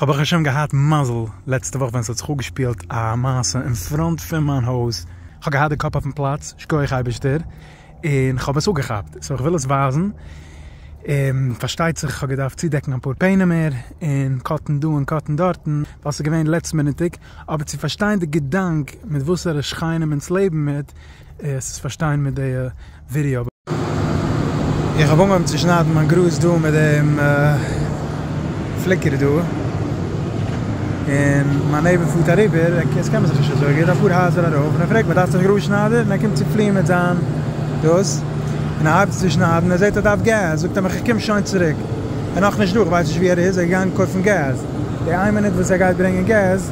כ'האב ברוך השם געהאט מזל לעצטע וואך ווען ס'האט זיך אפגעשפילט א מעשה אין פראנט פון מיין הויז, כ'האב געהאט די קאפ אויפן פלאץ, שקויעך אייבערשטער, און כ'האב עס אפגעכאפט, סאו כ'וויל עס ווייזן, און פארשטייט זיך כ'האב געדארפט צודעקן אפאר פענעמער, און קאטן דא און קאטן דארטן, ווייל ס'איז געווען לעצט מינוטיג, אבער צו פארשטיין די געדאנק מיט וואסערע שכנים אונז לעבן מיט, עס איז פארשטיין מיט די. ווידעא. איך האב אנגעהויבן צו שניידן מיין גראז דא מיט דעם פליקער דא, און מיין נעיבער פארט אריבער, עס קען מען זיך נישט אזוי גוט, אפאר הייזער ארויף, און ער פרעגט מיך דארפסט א גראז שניידער? און ער קומט צו פליען מיט זיין דאס, און ער הייבט צו שניידן, ער זעט ער דארף געז, זאגט ער מיך איך קום שוין צוריק, ער נאכנישט דא, איך ווייס נישט ווי ער איז, ער איז געגאנגען קויפן געז, די איין מינוט וואס ער גייט ברענגען געז,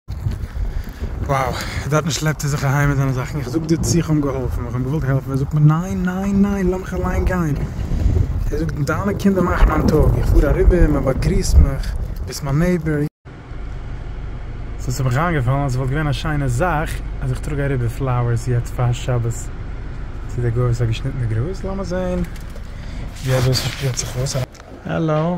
Wow, דארט נישט שלעפט ער זיך אהיים מיט זיינע זאכן, איך זאג דיר צו איך האב אים געהאלפן, איך האב אים געוואלט העלפן, ער זאגט מיר ניין ניין ניין לאמיך אליין גיין, ער זאגט דיינע קינדער מאכן מיין טאג, איך פאר אריבער מען באגריסט מיך, ביסט מיין נעיבער, סאו ס'האט מיך איינגעפאלן אז ס'וואלט געווען א שיינע זאך אז איך טראג אריבער פלאוערס יעצט פאר שבת צו דער גוי וואס האט געשניטן די גראז, לאמיר זען ווי אזוי ס'שפירט זיך אויס. העלאו.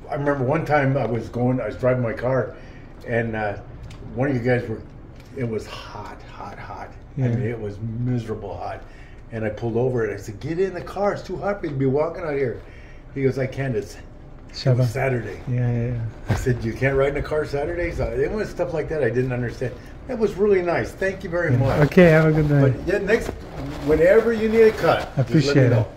איי רימעמבער וואן טיים איי וואס גאון איי וואס דרייווינג מיי קאר און וואן אוו יו גייס ווער איט וואס האט האט האט איי מין איט וואס מיזערעבל האט און איי פולד אווער און איי סעד געט אין די קאר איטס טו האט פאר יו טו בי וואקינג אוט העיר הי גאוס איי קענט איטס איטס סעטערדעי איי סעד יו קענט רייד אין א קאר סעטערדעי סא איט וואס סטאף לייק דעט איי דידנט אנדערסטענד איט וואס רילי נייס טענק יו ווערי מאטש אקעי האוו א גוד דעי ווען עווער יו ניד א קאט דזשאסט לעט מי נאו.